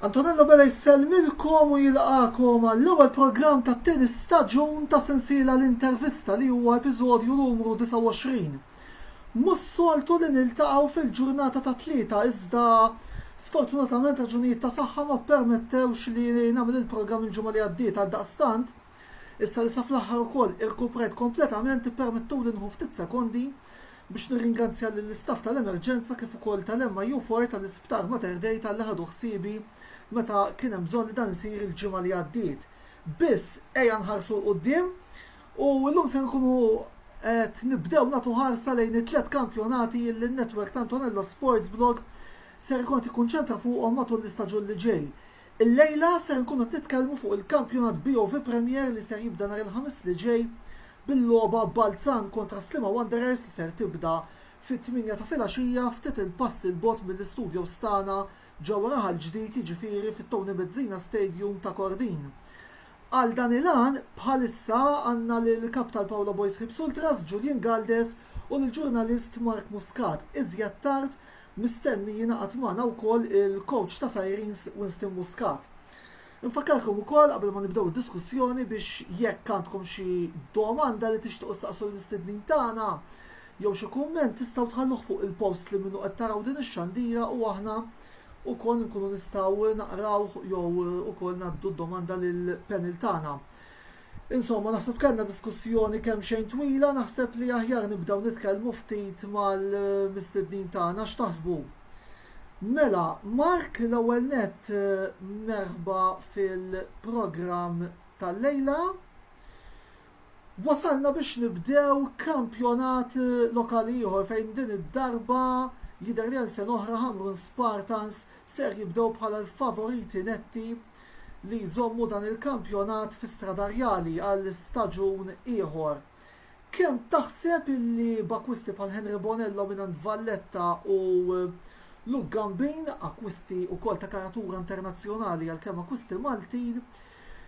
Antonello Bela jsellmilkom u jilqagħkom għall-ewwel programm tat-tieni staġun ta' sensiela l-intervista li huwa episodju numru 29. Mhux soltu li niltaqgħu fil-ġurnata ta' Tlieta iżda sfortunatament raġunijiet ta' saħħa ma ppermettewx li nagħmel il-programm il-ġimgħa li għaddiet għaldaqstant Issa li sa fl-aħħar ukoll irkuprajt kompletament ippermettuli nieħu ftit sekondi biex nirringanzja lill-istaff tal-emerġenza kif ukoll tal-MIU4 tal-Isptar Mater Dei talli ħadu ħsiebi meta kien hemm bżonn li dan isir il-ġimgħa li għaddiet. Biss ejja nħarsu 'l quddiem u llum se nkunu qed nibdew nagħtu ħarsa lejn it-tliet kampjonati li n-network ta' Antonello Sports Blog ser ikun qed jikkunċentra fuqhom matul l-istaġun li ġej. Illejla ser inkunu qed nitkellmu fuq il-kampjonat BOV Premier li ser jibda nhar il-Ħamis li ġej bil-logħba Balzan kontra Sliema Wanderers li ser tibda fit-tmienja ta' filgħaxija ftit il-passi 'l bogħod mill-istudios tagħna ġewwa Raħal Ġdid jiġifieri fit-Tony Bezzina Stadium ta' Kordin. Għal dan il-għan bħalissa għandna lill-Kap tal-Paula Boys Ħibs Ultras, Julian Galdes u lill-ġurnalist Mark Muscat. Iżjed tard Mistenni jingħaqad magħna wkoll il-kowċ ta' Sirens Winston Muscat. Infakkarkom ukoll qabel ma nibdew id-diskussjoni biex jekk għandkom xi domanda li tixtiequ ssaqsu l-mistednin tagħna jew xi kumment tistgħu tħalluh fuq il-post li minnu qed taraw din ix-xandira u aħna wkoll inkunu nistgħu naqrawh jew ukoll ngħaddu d-domanda lill-panel tagħna. Insomma, naħseb kellna diskussjoni kemm xejn twila, naħseb li aħjar nibdew nitkellmu ftit mal-mistednin tagħna x'taħsbu. Mela, Mark l-ewwel net eh, merħba fil-programm tal-lejla. Wasalna biex nibdew kampjonat eh, lokali ieħor fejn din id-darba jidher li għal sen oħra Hamrun Spartans ser jibdew bħala l-favoriti netti li jżommu dan il-kampjonat fi Stradarjali għal staġun ieħor. Kemm taħseb illi b'akkwisti bħal Henry Bonello mingħand Valletta u Luke Gambin, akkwisti wkoll ta' karatura internazzjonali għalkemm akkwisti Maltin,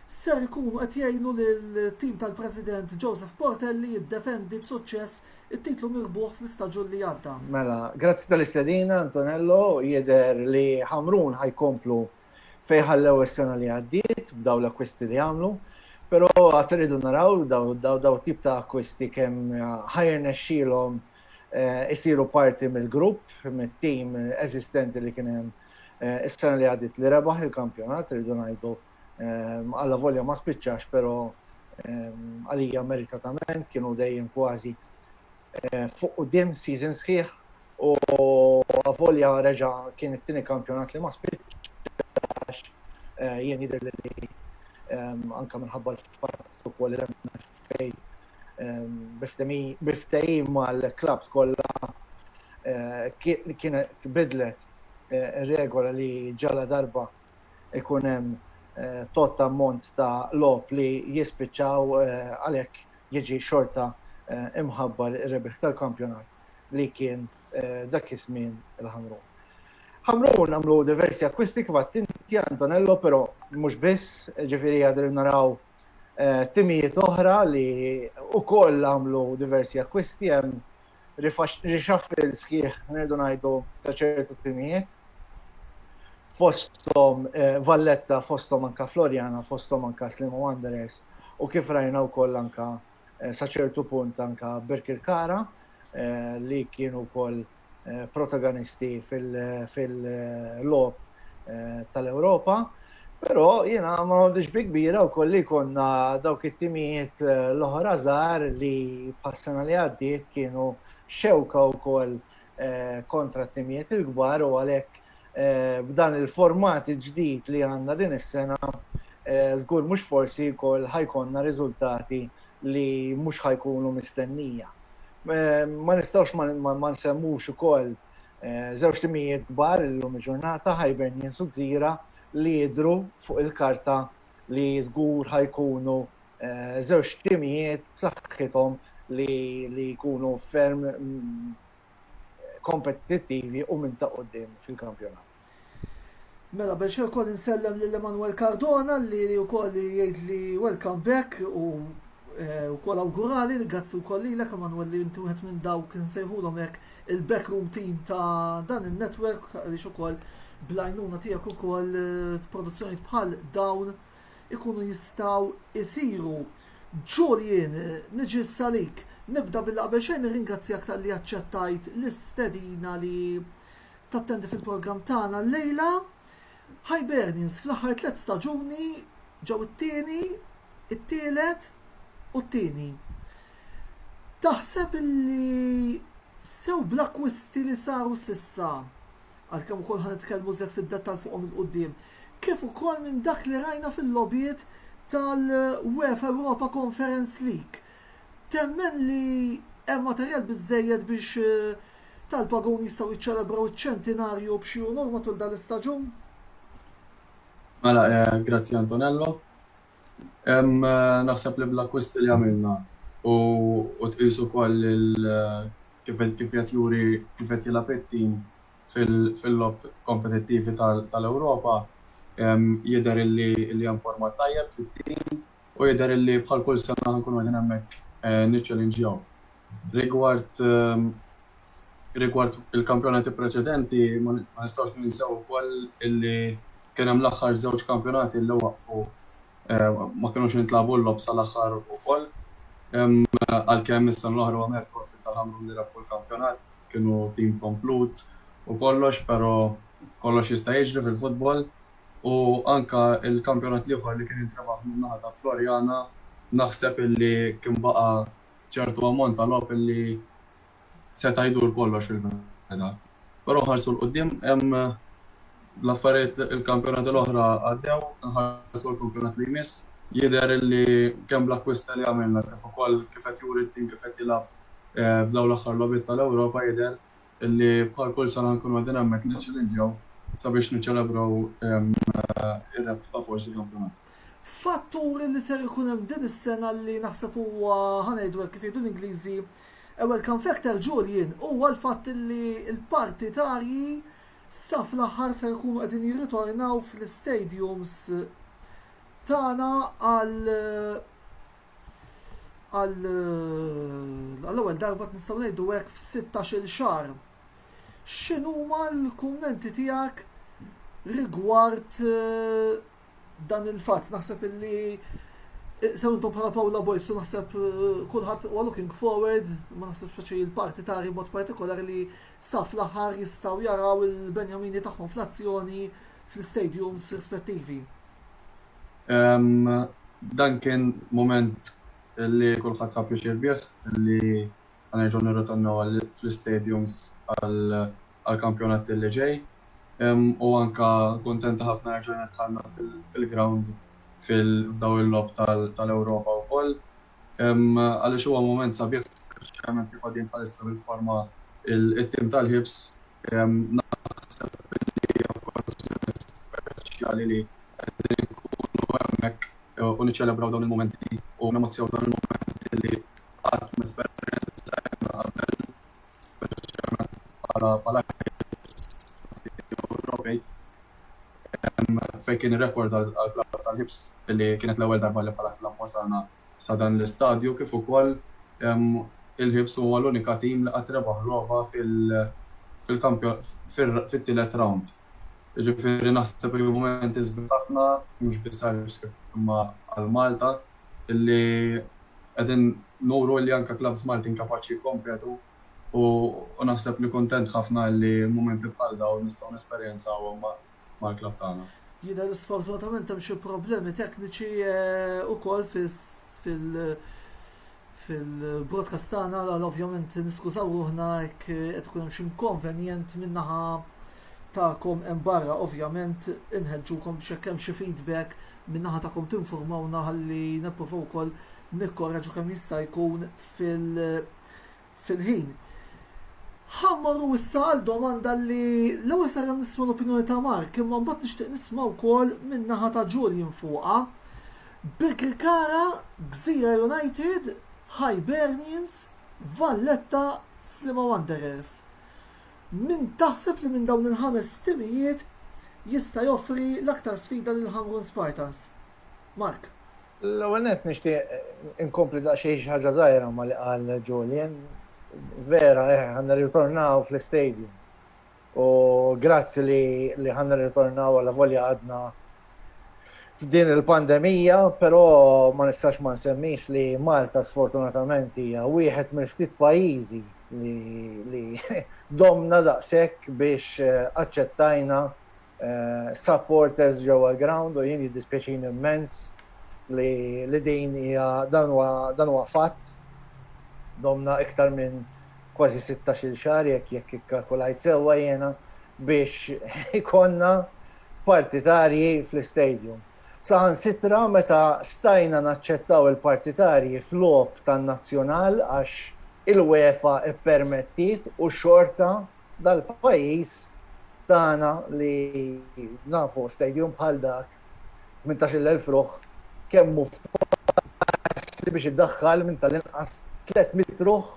ser ikunu qed jgħinu lill-tim tal-President Joseph Portelli jiddefendi b'suċċess it-titlu mirbuħ fl-istaġun li għadda? Mela, grazzi tal-istedina, Antonello. Jidher li Ħamrun ħa jkomplu fejn ħallew is-sena li għaddiet b'dawn l-akkwisti li għamlu, però għad irridu naraw dawn it-tip ta' akkwisti kemm ħa jirnexxielhom isiru parti mill-grupp, mit-tim eżistenti li kien hemm is-sena li għaddiet li rebaħ il-kampjonat, irridu ngħidu, allavolja ma spiċċax, però għalija meritatament kienu dejjem kważi Fuq quddiem season sħiħ u avolja reġa' kien it-tieni kampjonat li ma spiċċax, jien jidhirli li anke minħabba l-fatt ukoll li l-MFA bi ftehim mal-klabbs kollha kienet biddlet ir-regola li ġaladarba jkun hemm tot ammont ta' logħob li jispiċċaw għalhekk jiġi xorta mħabbar ir-rebbieħ tal-kampjonat li kien dak iż-żmien il-Ħamrun. Ħamrun għamlu diversi akkwisti kif għedt inti Antonello però mhux biss, ġifieri qegħdin naraw timijiet oħra li wkoll għamlu diversi akkwisti hemm reshuffle sħiħ nirdu ngħidu ta' ċertu timijiet fosthom eh, Valletta, fosthom anka Floriana, fosthom anka Slimu Wanderers u kif rajna wkoll anka eh, sa ċertu punt anka Birkirkara eh, li kienu wkoll protagonisti fil-lob tal-Ewropa. Fil Però jiena ma noħodhiex bi kbira wkoll li jkollna dawk it-timijiet l-oħra żgħar li bħas-sena li għaddiet kienu xewka wkoll kontra t-timijiet il-kbar u għalhekk b'dan il-format il-ġdid li għandna din is-sena żgur mhux forsi wkoll ħa jkollna riżultati li mhux ħa jkunu mistennija. Ma nistgħux ma nsemmux ukoll, Żewġ timijiet kbar illum il-ġurnata, Hibernians u Gżira, li jidhru fuq il-karta li żgur ħa jkunu żewġ timijiet b'saħħithom li jkunu ferm kompetittivi u minn ta' quddiem fil-kampjonat. Mela biex ukoll insellem lil Emanuel Cardona li wkoll jgħidli welcome back u eh, wkoll awgurali li grazzi wkoll lilek Emanuel li inti wieħed minn dawk nsejħulhom hekk il-backroom team ta' dan in-network għaliex ukoll blajnuna tiegħek ukoll eh, produzzjoni bħal dawn ikunu jistaw isiru. Julian, niġi salik, nibda bil-qabel xejn nirringrazzjak tal-li aċċettajt l-istedina li Tattendi fil-programm tagħna llejla Hibernians fl-aħħar tliet staġuni ġew it-tieni, it-tielet u t-tieni. Taħseb li sew bl-akkwisti li saru s'issa, għalkemm ukoll ħa nitkellmu żjed fid-dettall fuqhom 'il quddiem, kif ukoll minn dak li rajna fil-logħbiet tal-UEFA Europa Conference League, temmen li hemm materjal biżżejjed biex tal-pagun jistgħu jiċċelebraw iċ-ċentinarju b'xi unur matul dan l-istaġun? Mela, eh, grazzi Antonello. Eh, naħseb li bl-akkwist li għamilna u tqisu koll eh, kif qed juri kif qed jilgħab it-tim fil-lob kompetittivi tal-Ewropa jidher li hemm format tajjeb fit-tim U jidher illi bħal kull sena ħa nkunu qegħdin hemmhekk niċċelinġjaw. Rigward rigward il-kampjonati preċedenti ma nistgħux ninsew ukoll illi kien hemm l-aħħar żewġ kampjonati illi waqfu ma kinux intlagħbu l-logħob sal-aħħar ukoll. Għalkemm is-sena l-oħra huwa mertu għat-tim tal-Ħamrun li rebħu l-kampjonat, kienu tim komplut u kollox, però kollox jista' jiġri fil-futbol. u anke l-kampjonat l-ieħor li kien intrebaħ min-naħa ta' Floriana naħseb illi kien baqa' ċertu ammont ta' logħob illi seta' jdur kollox fil-bidu. Però nħarsu 'l quddiem hemm l-affarijiet il-kampjonati l-oħra għaddew, inħarsu għall-kampjonat li jmiss. Jidher illi kemm bl-akkwisti li għamilna kif ukoll kif qed juri t-tim kif qed jilgħab f'dawn l-aħħar logħbiet tal-Ewropa jidher li bħal kull sena nkunu qegħdin hemmhekk niċċillinġjaw sabiex niċċelebraw ir-rebħa forsi kampjonat. Fattur li ser ikun hemm din is-sena li naħseb huwa ħa ngħidu hekk kif jgħidu l-Ingliżi a welcome factor Julian huwa l-fatt li l-partitarji sa fl-aħħar ser ikunu qegħdin jirritornaw fl-istadiums tagħna għal għall-ewwel darba nistgħu ngħidu hekk f'16-il xahar. X'inhuma l-kummenti tiegħek rigward eh, dan il-fatt? Naħseb illi eh, sew intom bħala Paula Boysu naħseb eh, kulħadd huwa looking forward, ma naħseb xi l-partitari mod partikolari li saf l-aħħar jistgħu jaraw il-Benjamini tagħhom fl-azzjoni fl-stadiums rispettivi. Dan kien mument li kulħadd ħa pjaċir bih li ħa nerġgħu nirritornaw fl-istadiums għall-kampjonat li ġej u anke kuntenti ħafna li rġajna dħalna fil-grawnd f'dawn il-logħob tal-Ewropa wkoll għaliex huwa mument sabiħ speċjalment kif għadin bħalissa bil-forma t-tim tal-Hibs. Naħseb li hija okkażjoni speċjali li qegħdin inkunu hemmhekk u niċċelebraw dawn il-mumenti u nemozzjaw dawn il-mumenti li qatt m'esperjenzajna qabel, speċjalment bħala ħielsa Ewropej, fejn kien ir-rekord għall-klabb tal-ħibs li kienet l-ewwel darba li bħala klabb wasalna Sa dan l-istadju kif ukoll il-Hibs huwa l-unika team li qatt rebaħ logħba fit-tielet round. Jiġifieri naħseb li hu mument isbiħ ħafna mhux biss għall-Hibs kif imma għal Malta illi qegħdin nuru illi anke clubs Maltin kapaċi jikkompetu u naħseb li kuntent ħafna illi mumenti bħal dawn nistgħu nesperjenzawhom mal-klabb tagħna. Jidher li sfortunatament hemm xi problemi tekniċi wkoll fil-broadcast tagħna għal ovvjament niskużaw ruħna jekk qed ikun hemm xi inkonvenjent min-naħa tagħkom hemm barra ovvjament inħeġġukom biex jekk hemm xi feedback min-naħa tagħkom tinfurmawna ħalli nippruvaw ukoll nikkoreġu kemm jista' jkun fil- fil-ħin. Ħa mmorru issa għal domanda li l-ewwel sar nisma' l-opinjoni ta' Mark, imma mbagħad nixtieq nisma' wkoll min-naħa ta' Julian fuqha. Birkirkara, Gżira United, Hibernians, Valletta, Sliema Wanderers. Min taħseb li minn dawn il-ħames timijiet jista' joffri l-aktar sfida lill-Ħamrun Spartans? Mark. L-ewwel nett nixtieq inkompli daqsxejn xi ħaġa żgħira ma' li qal Julian. Vera, eħe, ħa nirritornaw fl-istadium. U grazzi li ħa nirritornaw allavolja għadna f'din il-pandemija, però ma nistax ma nsemmix li Malta sfortunatament hija wieħed mill-ftit pajjiżi li domna daqshekk biex aċċettajna supporters ġewwa l-ground u jien jiddispjaċini mmens li din hija dan huwa fatt. Domna iktar minn kważi 16-il xahar jekk jekk ikkalkulajt sewwa jiena biex ikonna partitarji fl-istadium. Saħan sitra meta stajna naċċettaw il-partitarji f'logħob tan-Nazzjonal għax il-UEFA ippermettiet u xorta dal-pajjiż tagħna li nafu stadium bħal dak 18,000 ruħ kemm hu faċli biex iddaħħal minn tal-inqas 300 ruħ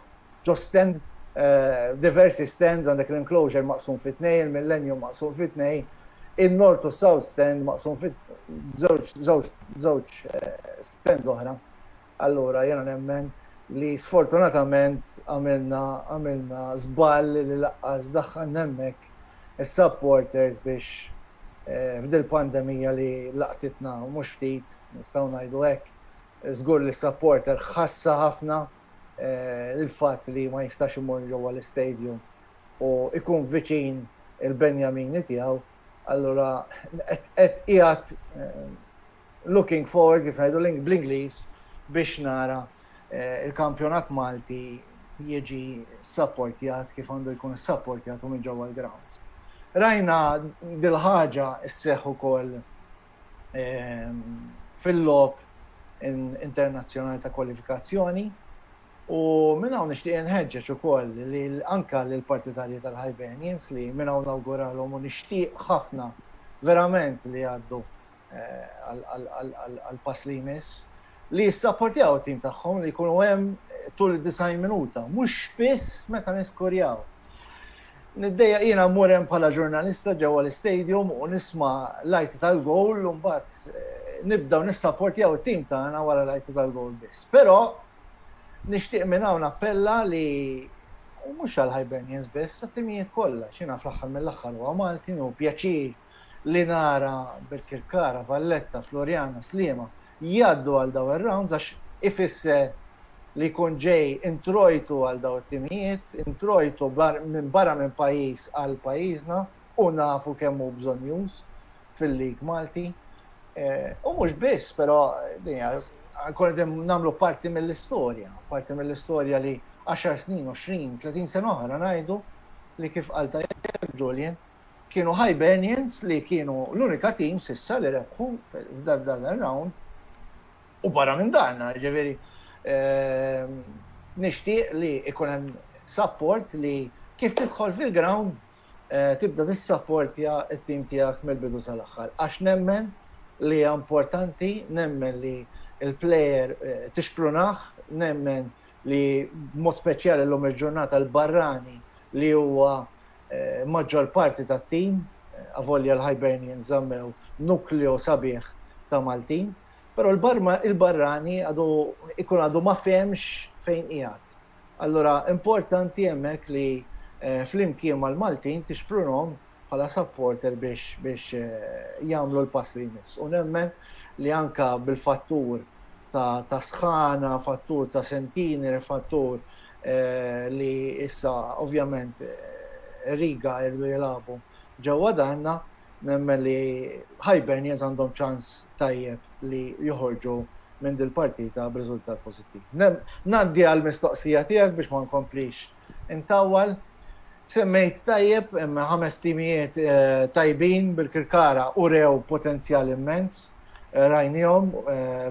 ġo stand diversi stands għandek l-enclosure maqsum fi tnejn, il-millennium maqsum fi tnejn, in-north u s-south stand maqsum fi żewġ żewġ stands oħra. Allura jiena nemmen li sfortunatament għamilna għamilna żball li laqqas daħħalna hemmhekk is-supporters biex f'dil-pandemija li laqtitna mhux ftit, nistgħu ngħidu hekk, żgur li s-supporter ħassha ħafna l-fatt li ma jistax imur ġewwa l-istadium u jkun viċin il-benjamini tiegħu, allura qed qiegħed Looking forward, kif ngħidu bl-Ingliż, biex nara l-kampjonat Malti jiġi ssapportjat kif għandu jkun ssapportjat u minn ġewwa l-grounds. Rajna dil-ħaġa sseħħ ukoll fil-logħob internazzjonali ta' kwalifikazzjoni u minn hawn nixtieq inħeġġeġ ukoll anke lill-partitarji tal-Hibernians li minn hawn nawguralhom u nixtieq ħafna verament li jgħaddu għal pass li jmiss, li jissapportjaw it-tim tagħhom li jkunu hemm tul id-90 minuta, mhux biss meta niskorjaw. Niddejjaq jiena mmur hemm bħala ġurnalista ġewwa l-istadium u nisma' l-għajti tal-gowl u mbagħad nibdew nissapportjaw it-tim tagħna wara l-għajti tal-gowl biss. Però nixtieq minn hawn nappella li u mhux għall-Hibernians biss, għat-timijiet kollha, x'jiena fl-aħħar mill-aħħar huwa Malti u pjaċir li nara Birkirkara, Valletta, Floriana, Sliema jgħaddu għal dawn ir-rounds għax ifisser li jkun ġej introjtu għal dawn it-timijiet, introjtu minn barra minn pajjiż għal pajjiżna u nafu kemm hu bżonnjuż fil-league Malti. U mhux biss, però din hija nkunu qegħdin nagħmlu parti mill-istorja, parti mill-istorja li għaxar snin, għoxrin, tletin sena oħra ngħidu li kif qal tajjeb Julian, Kienu Hibernians li kienu l-unika team s'issa li rebħu f'dan ir-round u barra minn dan, jiġifieri nixtieq li jkun hemm support li kif tidħol fil-ground tibda tissapportja t-team tiegħek mill-bidu sal-aħħar għax nemmen li hija importanti, nemmen li l-player tixprunah, nemmen li b'mod speċjali llum il-ġurnata l-barrani li huwa maġġor parti tat-tim, avolja l-Hibernians żammew nukleo sabiħ ta' Maltin, però l-barrani għadu ikun għadu ma fehemx fejn qiegħed. Allura importanti hemmhekk li flimkien mal-Maltin tixprunhom bħala supporter biex jagħmlu l-pass li jmiss. U nemmen li anke bil-fattur ta' sħana, fattur ta' sentiner, fattur li issa ovvjament Riga jridu jilagħbu ġewwa darna, nemmen li Hibernians għandhom ċans tajjeb li joħorġu minn dil-partita b'riżultat pożittiv. Ngħaddi għall-mistoqsija tiegħek biex ma nkomplix intawwal. Semmejt tajjeb, hemm ħames timijiet tajbin bil-Kirkara urew potenzjal immens, rajniehom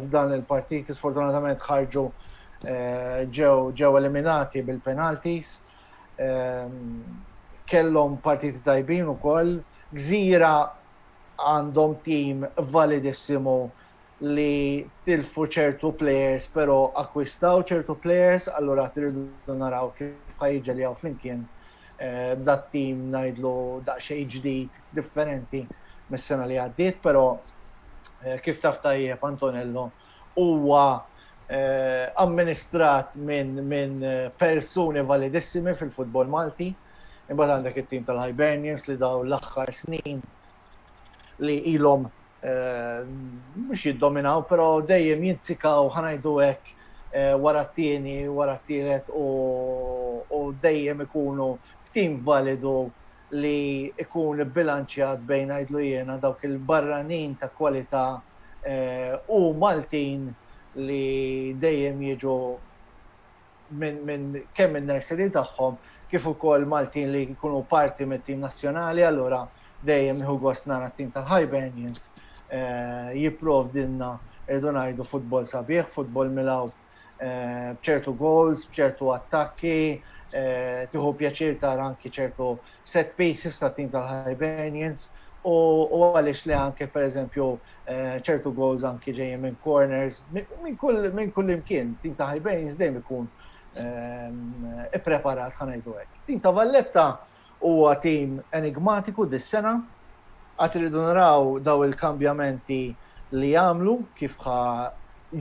f'dan il-partiti sfortunatament ħarġu ġew eliminati bil-penalties, kellhom partiti tajbin ukoll, Gżira għandhom tim validissimo, li tilfu ċertu plejers però akkwistaw ċertu plejers allura qed irridu naraw kif ħa jiġġeljaw flimkien eh, dat-tim ngħidlu daqsxejn ġdid differenti mis-sena li għaddiet, però eh, kif taf tajjeb Antonello huwa eh, amministrat minn min persuni validissimi fil-futbol Malti, imbagħad għandek it-tim tal-Hibernians li daw l-aħħar snin li ilhom mhux jiddominaw, però dejjem jinzikaw ħa ngħidu hekk wara t-tieni, wara t-tielet u dejjem ikunu b'tim validu li jkun ibbilanċjat bejn ngħidlu jiena dawk il-barranin ta' kwalità u Maltin li dejjem jiġu minn kemm in-nursery tagħhom kif ukoll Maltin li jkunu parti mit-tim nazzjonali allura dejjem nieħu gost nara t-tim tal-Hibernians jipprovdilna irridu ngħidu futbol sabiħ, futbol milgħub b'ċertu goals, b'ċertu attakki, tieħu pjaċir tara anki ċertu set pieces tat-tim tal-Hibernians u għaliex le anke pereżempju ċertu goals anke ġejjin minn corners minn kull imkien. Tim ta' Hibernians dejjem ikun ippreparat ħa ngħidu hekk. Tim ta' Valletta huwa tim enigmatiku dis-sena għad irridu naraw dawn il-kambjamenti li jagħmlu kif ħa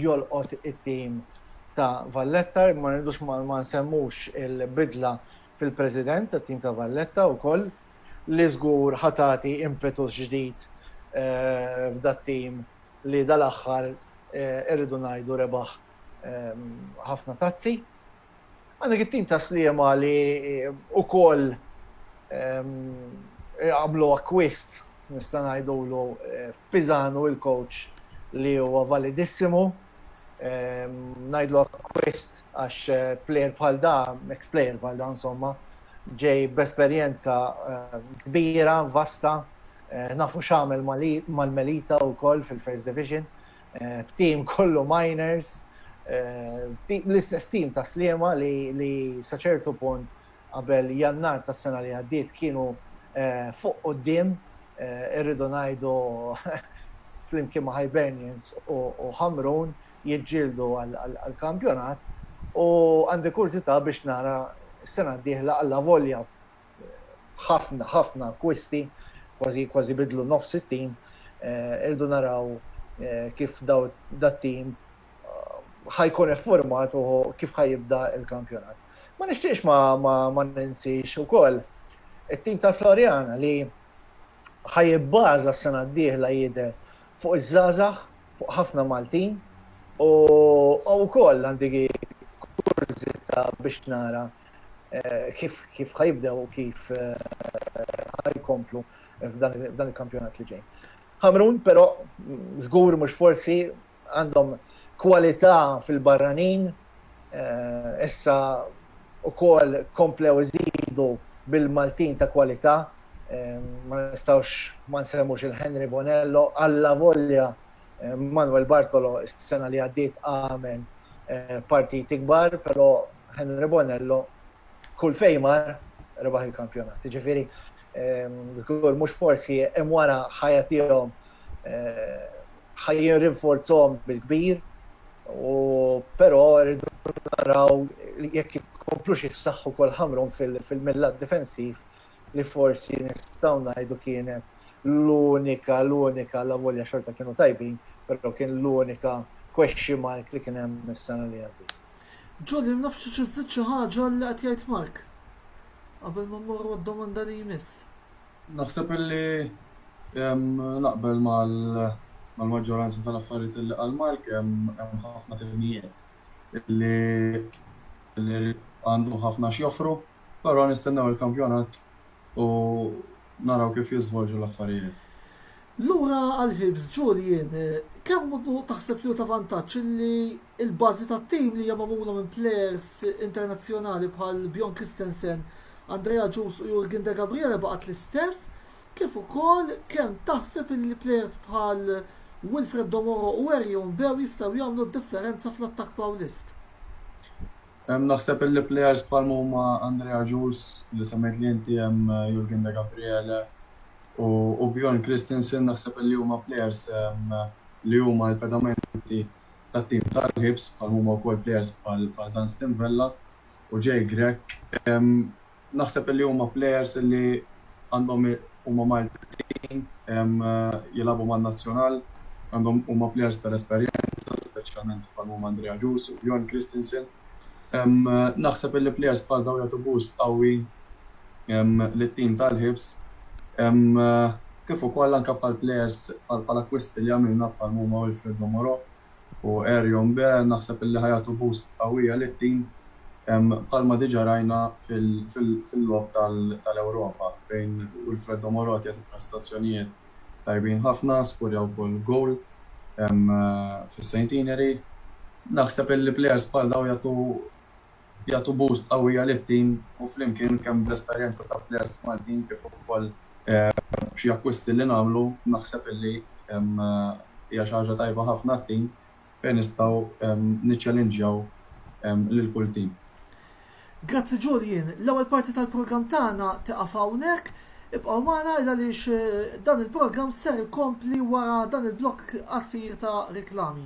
jolqot it-tim ta' Valletta, ma rridux ma nsemmux il-bidla fil-President tat-tim ta' Valletta wkoll li żgur ħa tagħti impetus ġdid f'dat-tim li dal-aħħar irridu ngħidu rebaħ ħafna tazzi. Għandek it-tim ta' Sliema li wkoll għamlu akkwist nista' ngħidulu f'Pisanu il-coach li huwa validissimu ngħidlu akkwist għax plejer bħal da, ex plejer bħal da insomma, ġej b'esperjenza kbira, vasta, nafu x'għamel mal-Melita wkoll fil-First Division, b'team kollu minors, l-istess team ta' Sliema li sa ċertu punt qabel Jannar tas-sena li għaddiet kienu fuq quddiem, irridu ngħidu flimkien ma' Hibernians u Ħamrun, jiġġieldu għall-kampjonat u għandi kurżità biex nara s-sena d-dieħla allavolja ħafna ħafna akkwisti, kważi kważi bidlu nofs it-tim, irridu naraw kif dat-tim ħa jkun iffurmat u kif ħa jibda l-kampjonat. Ma nixtieqx ma ninsiex ukoll it-tim tal-Floriana li ħa jibbaża s-sena d-dieħla jidher fuq iż-żgħażagħ, fuq ħafna Maltin u wkoll għandi kurżità biex nara kif kif ħa jibdew u kif ħa jkomplu f'dan f'dan il-kampjonat li ġej. Ħamrun però żgur mhux forsi għandhom kwalità fil-barranin Issa ukoll komplew iżidu bil-Maltin ta' kwalità, ma nistgħux ma nsemmux lil Henry Bonello, allavolja Manuel Bartolo s-sena li għaddiet għamel partiti kbar, però Henry Bonello kull fejn mar rebaħ il-kampjonat. Jiġifieri żgur mhux forsi, hemm wara ħajja tiegħhom ħajjin rinforzhom bil-kbir, u però rridu naraw jekk jkomplux jissaħħu kol ħamrun fil-millat difensiv li forsi nistgħu ngħidu kienet l-unika, l-unika la volja xorta kienu tajbin, però kien l-unika question mark li kien hemm is-sena li għaddiet. Jolly naf trid iżżid xi ħaġa għal li qed jgħid Mark qabel ma mmorru għad-domanda li jmiss. Naħseb illi naqbel mal-maġġoranza tal-affarijiet illi qal Mark, hemm ħafna timijiet illi għandhom ħafna x'joffru, però nistennew il-kampjonat u Naraw kif jiżvolġu l-affarijiet. Lura għal Hibs, Julian, kemm hu taħseb li hu ta' vantaġġ illi l-bażi tat-tim li hija magħmula minn plejers internazzjonali bħal Bjorn Kristensen, Andre Agius u Jurgen Degabriele baqgħet l-istess, kif ukoll kemm taħseb illi plejers bħal Wilfred Domoro u Erjon Beo jistgħu jagħmlu d-differenza fl-attakk Pawlist? Naħseb illi plejers bħal ma huma Andre Agius, li semmejt li inti, hemm Jurgen Degabriele u Bjorn Kristensen naħseb illi huma plejers li huma l-pedamenti tat-tim tal-Hibs bħal ma huma wkoll plejers bħal Dunstan Vella u Jay Grech. Naħseb illi huma plejers illi għandhom huma Maltin, jilagħbu man-nazzjonal, għandhom huma plejers tal-esperjenza, speċjalment bħal huma Andrea Jus u Bjorn Kristensen. Naħseb illi plejers bħal dawn jagħtu boost qawwi lit-tim tal-Hibs, kif ukoll anke bħal plejers bħal bħal akkwisti li għamilna bħal huma Wilfredo Moreau u Erjon B naħseb illi ħa jagħtu boost qawwija lit-tim bħalma diġa rajna fil-logħob tal-Ewropa fejn Wilfredo Morote jagħti prestazzjonijiet tajbin ħafna, skurja wkoll goal fis-Centenary. Naħseb illi players bħal dawn jagħtu jagħtu boost qawwija lit-tim u flimkien kemm bl-esperjenza ta' players Maltin kif ukoll b'xi akkwisti li nagħmlu naħseb illi hija xi ħaġa tajba ħafna għat-tim fejn nistgħu niċċelinġjaw lil kull tim. Grazzi Julian, l-ewwel parti tal-programm tagħna tieqaf hawnhekk. Ibqgħu magħna għaliex dan il-programm ser ikompli wara dan il-blokk qasir ta' riklami.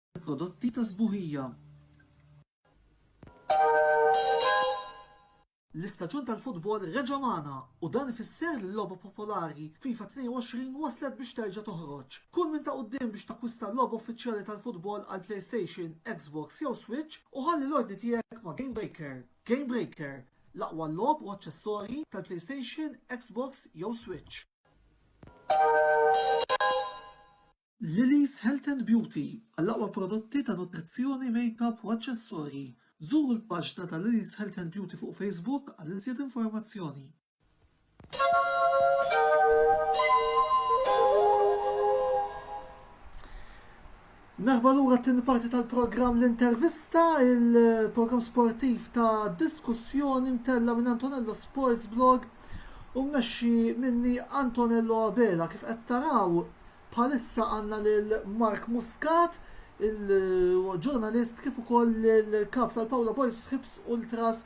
prodotti ta' sbuħija. L-istaġun tal-futbol reġa' magħna u dan ifisser li l-logħba popolari FIFA 22 waslet biex terġa' toħroġ. Kun minn ta' quddiem biex takkwista l-logħba uffiċjali tal-futbol għall-PlayStation, Xbox jew Switch u ħalli l-ordni tiegħek ma' GameBreaker. GameBreaker, l-aqwa logħob u aċċessorji tal-PlayStation, Xbox jew Switch. Lily's Health and Beauty, Għall-aqwa prodotti ta' nutrizzjoni, makeup u aċċessorji, żuru l-paġna ta' Lily's Health and Beauty fuq Facebook għal iżjed informazzjoni. Merħba lura għat-tieni parti tal-programm l-intervista, il-programm sportiv ta' diskussjoni mtella minn Antonello Sports Blog u mmexxi minni Antonello Abela. Kif qed taraw bħalissa għandna lil Mark Muscat, il-ġurnalist kif ukoll il-kap tal-Paula Boys Ħibs Ultras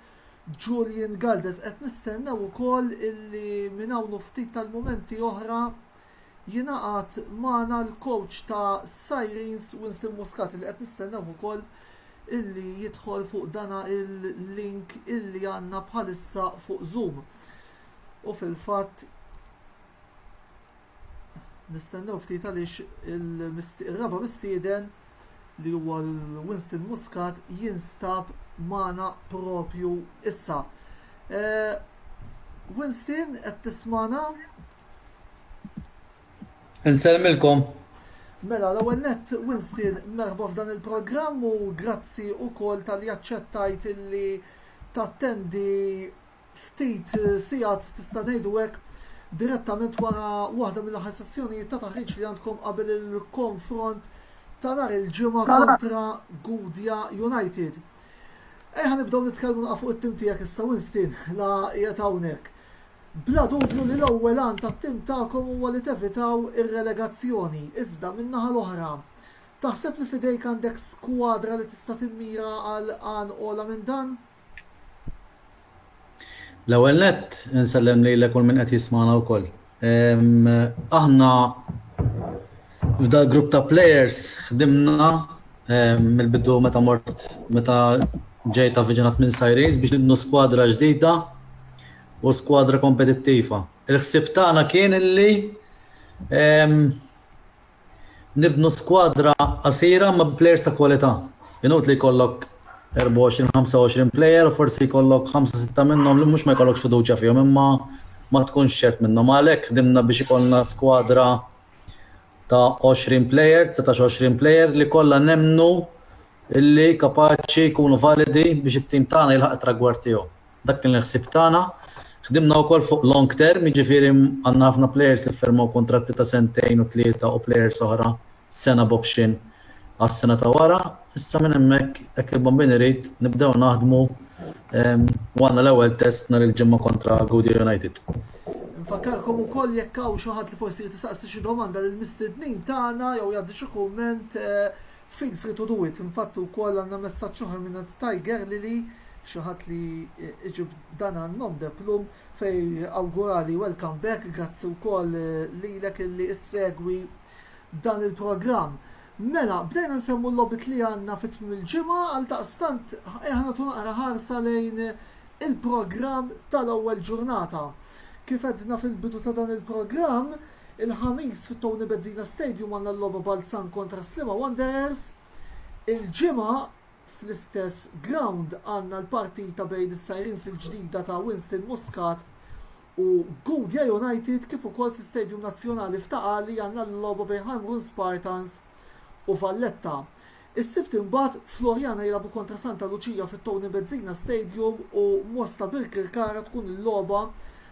Julian Galdes. Qed nistennew ukoll illi minn hawn u ftit tal-mumenti oħra jingħaqad magħna l-kowċ ta' Sirens Winston Muscat li qed nistennewh ukoll illi jidħol fuq dana il-link illi għandna bħalissa fuq Zoom. U fil-fatt nistennew ftit għaliex il-raba mistieden li huwa l-Winston Muscat jinstab magħna propju issa. Eh, Winston, qed tismana? Nselmilkom. Mela, l-ewwel nett Winston merħba f'dan il-programm u grazzi wkoll tal-li aċċettajt illi tattendi ftit sigħat tista' ngħidu hekk direttament wara waħda mill-aħħar sessjonijiet ta' taħriġ li għandkom qabel il-konfront ta' nhar il-ġimgħa kontra Gudja United. Ejħa nibdew nitkellmu naqa' fuq it-tim tiegħek issa Winston la qiegħed hawnhekk. Bla dubju li l-ewwel għan tat-tim tagħkom huwa li tevitaw ir-relegazzjoni, iżda, min-naħa l-oħra, taħseb li f'idejk għandek skwadra li tista' timmira għal għan ogħla minn dan? L-ewwel nett, insellem lilek u l-min qed jismagħna wkoll. Aħna f'dal-grupp ta' players ħdimna mill-bidu meta mort meta ġejt avviġinat minn Sirens biex nibnu skwadra ġdida u skwadra kompetittiva. Il-ħsieb tagħna kien li nibnu skwadra qasira imma bi plejers ta' kwalità. Inutli jkollok 24, 25 plejer u forsi jkollok ħamsa sitta minnhom li mhux ma jkollokx fiduċja fihom imma ma tkunx ċert minnhom. Għalhekk ħdimna biex ikollna skwadra ta' 20 plejer, 19-20 plejer li kollha nemmnu illi kapaċi jkunu validi biex it-tim tagħna jilħaq it-tragward tiegħu. Dak kien il-ħsieb tagħna. Ħdimna wkoll fuq long term, jiġifieri għandna ħafna plejers li ffirmaw kuntratti ta' sentejn u tlieta u plejers oħra sena b'option għas-sena ta' wara, issa minn hemmhekk hekk il-Bambin irid nibdew naħdmu u għandna l-ewwel test nhar il-Ġimgħa kontra Gudja United. Infakkarkom ukoll jekk hawn xi ħadd li forsi jrid isaqsi xi domanda lill-mistednin tagħna jew jgħaddi xi kumment, feel free to do it. Infatti wkoll għandna messaġġ oħra mingħand Tiger Lily, xi ħadd li iġib dan għan-nom de plume, fejn awgurali welcome back, grazzi wkoll lilek illi issegwi. dan il-programm. Mela, bdejna nsemmu l-logħbiet li għandna fi tmiem il-ġimgħa, għaldaqstant eħa nagħtu naqra ħarsa lejn il-programm tal-ewwel ġurnata. Kif għedna fil-bidu ta' dan il-programm, il-Ħamis fit-Tony Bezzina Stadium għandna l-logħba Balzan kontra Sliema Wanderers, il-Ġimgħa fl-istess ground għandna l-partita bejn is-Sirens il-ġdida ta' Winston Muscat u Gudja United kif ukoll fl-Istadium Nazzjonali f'Ta' Qali għandna l-logħba bejn Ħajmrun Spartans u Valletta. Is-Sibt imbagħad Floriana jilagħbu kontra Santa Luċija fit-Tony Bezzina Stadium u Mosta Birkirkara tkun il-logħba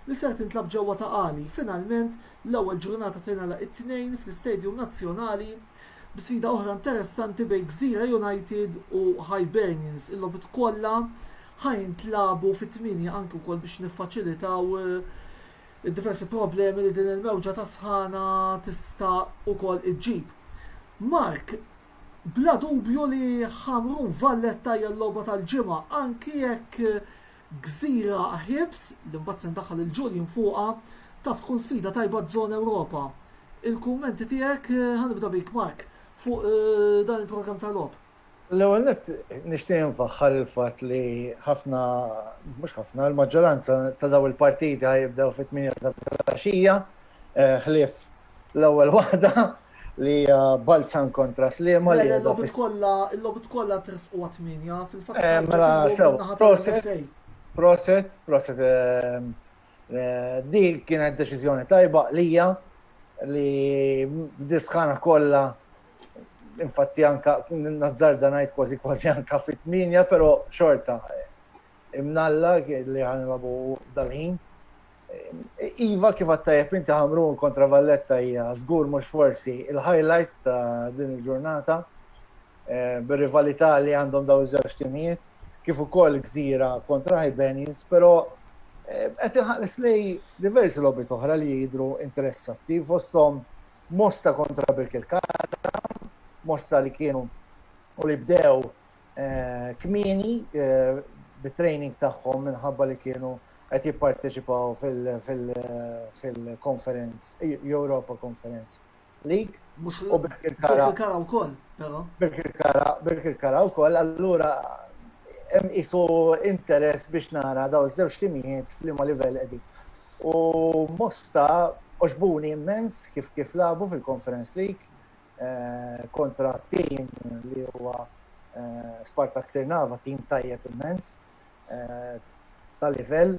li ser tintlagħab ġewwa Ta' Qali. Finalment l-ewwel ġurnata tingħalaq it-Tnejn fl-Istadium Nazzjonali B'sfida oħra interessanti bejn Gżira United u Hibernians, il-logħbiet kollha ħa jintlagħbu fit-tmienja anki wkoll biex niffaċilitaw id-diversi problemi li din il-mewġa ta' sħana tista' wkoll iġġib. Mark, bla dubju li Ħamrun Valletta hija l-logħba tal-ġimgħa anki jekk Gżira ħiebs, li mbagħad se ndaħħal il-Julian fuqha, taf tkun sfida tajba għaż-Żona Ewropa. Il-kummenti tiegħek, ħa nibda bik Mark, fuq dan il-programm tal-logħob? L-ewwel nett nixtieq infaħħar il-fatt li ħafna, mhux ħafna, il-maġġoranza ta' dawn il-partiti ħa jibdew fit-tmienja ta' filgħaxija, ħlief L-ewwel waħda li hija Balzan kontra Sliema li qiegħda fis- kollha, il-logħbiet kollha tresqu għat-tmienja, fil-fatt Eh, mela, ħarġet sew, il-logħba naħa proset. tal-MFA. Proset, proset. ehm, eh, Di kienet deċiżjoni tajba għalija li disħana kollha infatti anka nazzarda ngħid kważi kważi anka fit-tminja, però xorta eh, imnalla li ħanilagħbu dal-ħin. Iva kif għattajab inti ħamrun kontra Valletta hija żgur mhux forsi il-highlight ta' din il-ġurnata eh, bir-rivalità li għandhom daw iż-żewġ timijiet kif ukoll gżira kontra Hibernians, però eh, qed iħares lej diversi logħbiet oħra li jidru interessattiv fosthom Mosta kontra Birkirkara, Mosta li kienu u li bdew kmieni bit-training tagħhom minħabba li kienu qed jipparteċipaw fil-konferenz, Europa Conference League. Mhux u Birkirkara. Birkirkara wkoll, però. Birkirkara, Birkirkara wkoll, allura hemm isu interess biex nara daw żewġ timijiet f'liema livell qegħdin. U Mosta oġbuni immens kif kif labu fil-Conference League, kontra tim li huwa Spartak Tirnava, tim tajjeb immens ta' livell,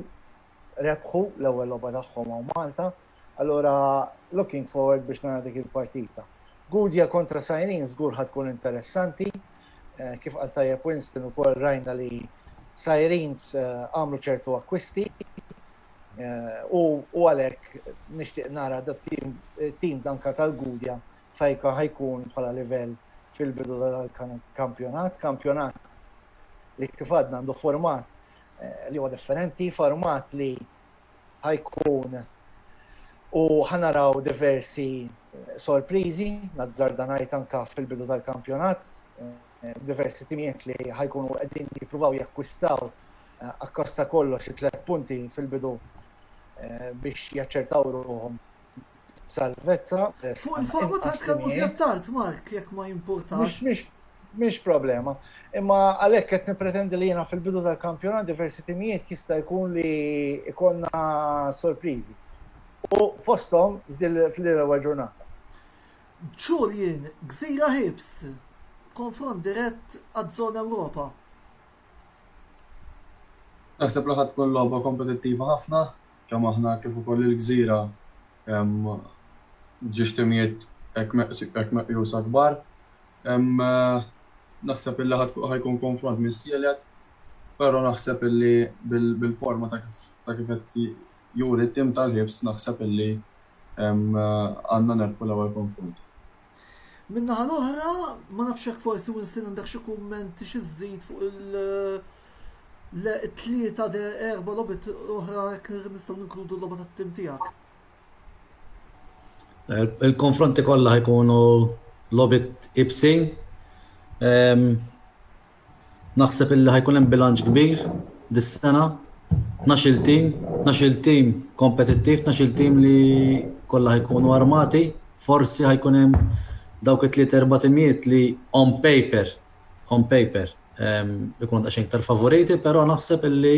rebħu l-ewwel logħba tagħhom hawn Malta. Allura looking forward biex nara dik il-partita. Gudja kontra Sajrin żgur ħa tkun interessanti, kif qal tajjeb Winston ukoll rajna li Sajrins għamlu ċertu akkwisti U għalhekk nixtieq nara tim danka tal-Gudja fejka ħajkun bħala livell fil-bidu tal-kampjonat. Kampjonat li kif għadna għandu format li huwa differenti, format li ħajkun u ħanaraw diversi sorpriżi, nazzarda ngħid anke fil-bidu tal-kampjonat, diversi timijiet li ħajkunu qegħdin jippruvaw jakkwistaw akkost ta' kollox it-tliet punti fil-bidu biex jaċċertaw ruħhom salvezza. Fuq il-forma ta' tkellmu żjed tard, Mark, jekk ma jimpurtax. Mhix problema. Imma għalhekk qed nippretendi li jiena fil-bidu tal-kampjonat diversi timijiet jista' jkun li jkollna sorpriżi. U fosthom f'dil fl-ewwel ġurnata. Julian Gżira Hibs, konfront dirett għaz-Zona Ewropa. Naħseb li ħa tkun logħba kompetittiva ħafna, kemm aħna kif ukoll il-Gżira ġiex timijiet hekk meqjusa kbar. Naħseb illi ħa jkun konfront missielek, però naħseb illi bil-forma ta' kif qed Juri t-tim tal-Hibs naħseb illi għandna nerbħu l-ewwel konfront. Min-naħa l-oħra, ma nafx jekk forsi Winston għandek xi kummenti xi żżid fuq it-tlieta de erba' logħbiet oħra jekk nistgħu ninkludu l-logħba tat-tim tiegħek. Il-konfronti kollha ħajkunu logħbiet ibsin. Naħseb illi ħa jkun hemm bilanċ kbir dis-sena, tnax-il tim, tnax-il tim kompetittiv, tnax-il tim li kollha ħa jkunu armati, forsi ħa jkun hemm dawk it-tliet erba' timijiet li on paper, on paper, ikunu daqsxejn iktar favoriti, però naħseb illi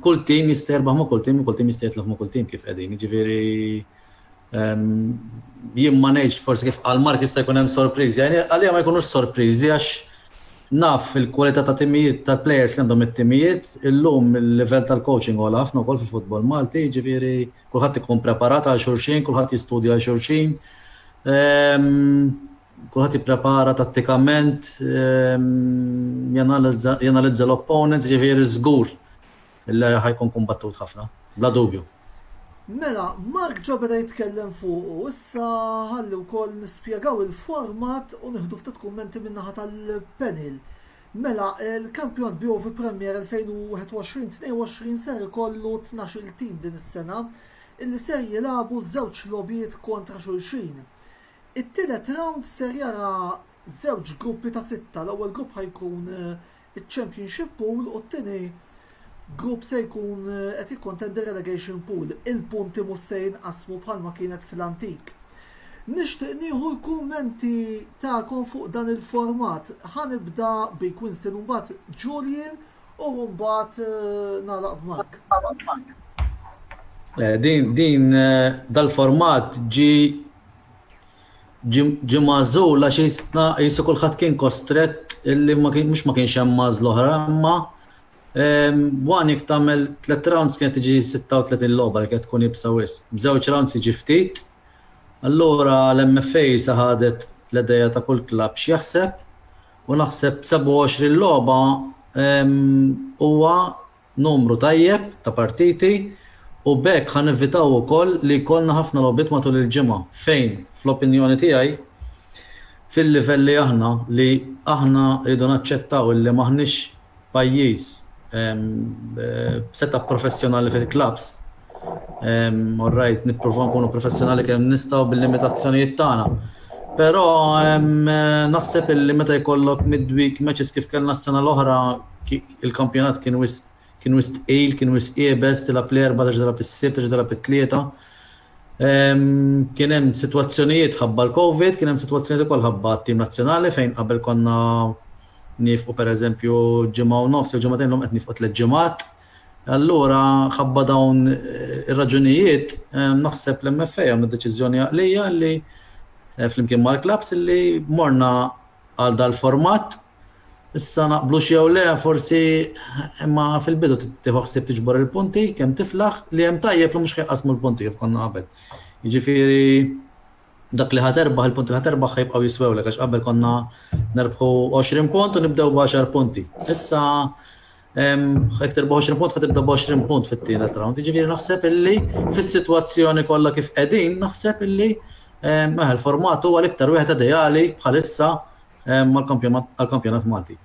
kull tim jista' jirbaħ ma' kull tim u kull tim jista' jitlef ma' kull tim kif qegħdin, jiġifieri, Jien ma ngħidx forsi kif qal Mark jista' jkun hemm sorpriżi, għalija ma jkunux sorpriżi għax naf il-kwalità ta' timijiet ta' plejers li għandhom it-timijiet, illum il-livell tal-coaching ogħla ħafna wkoll fil-futbol Malti, jiġifieri kulħadd ikun preparat għal xulxin, kulħadd jistudja għal xulxin, kulħadd jipprepara tattikament, janalizza l-opponents, jiġifieri żgur Illi ħa jkun kumbattut ħafna, bla dubju. Mela, Mark ġa beda jitkellem fuqu, issa ħalli wkoll nispjegaw il-format u nieħdu ftit kummenti min-naħa tal-panel. Mela, il-kampjonat BOV Premier 2021-22 ser ikollu tnax-il tim din is-sena illi ser jilagħbu żewġ logħbiet kontra xulxin. It-tielet rawnd ser jara żewġ gruppi ta' sitta, l-ewwel grupp ħa jkun iċ-Championship Pool u t-tieni grupp se jkun qed jikkontendi r-Relegation Pool. Il-punti mhux se jinqasmu bħalma kienet fl-antik. Nixtieq nieħu l-kummenti tagħkom fuq dan il-format. Ħa nibda bik Winston u mbagħad Julian u mbagħad eh, nagħlaq b'Mark. Eh, din din eh, dal-format ġi Ġie magħżul għax jistna qisu kulħadd kien kostrett illi ma kien mhux ma kienx hemm għażla oħra imma one jekk tagħmel tliet rounds kienet tiġi 36 logħba li kienet tkun iebsa wisq. B'żewġ rounds jiġi ftit. Allura l-MFA sa ħadet l-idea ta' kull klabb x'jaħseb u naħseb 27 logħba huwa numru tajjeb ta' partiti u b'hekk ħa nevitaw ukoll li jkollna ħafna logħbiet matul il-ġimgħa fejn, fl-opinjoni tiegħi, fil-livell li aħna, li aħna rridu naċċettaw illi m'aħniex pajjiż b'seta' professjonali fil-klabbs, orrajt, nippruvaw nkunu professjonali kemm nistgħu bil-limitazzjonijiet tagħna. Però naħseb illi meta jkollok midweek matches kif kellna s-sena l-oħra il-kampjonat kien wisq kien wisq tqil, kien wisq iebes, tilgħab l-Erbgħa terġa' tilgħab is-Sibt, terġa' tilgħab it-Tlieta. Kien hemm sitwazzjonijiet ħabba l-Covid, kien hemm sitwazzjonijiet ukoll ħabba t-tim nazzjonali fejn qabel konna nifqu pereżempju ġimgħa u nofs jew ġimgħatejn l-lum qed nifqu tliet ġimgħat. Allura ħabba dawn ir-raġunijiet naħseb l-MFA għamlu deċiżjoni għaqlija li flimkien mal-klabbs li morna għal dal-format Issa naqblux jew le forsi imma fil-bidu tieħu ħsieb tiġbor il-punti kemm tiflaħ li hemm tajjeb li mhux ħajqasmu l-punti kif konna qabel. Jiġifieri dak li ħaterbaħ il-punti li ħaterbaħ ħajbqgħu jiswewlek għax qabel konna nerbħu 20 punt u nibdew b'10 punti. Issa Hektor b' 20 punt ħad tibda b' 20 punt fit-tielet round. Jiġifieri naħseb illi fis-sitwazzjoni kollha kif qegħdin naħseb illi mela l-format huwa l-iktar wieħed ideali bħalissa għall-kampjonat Malti.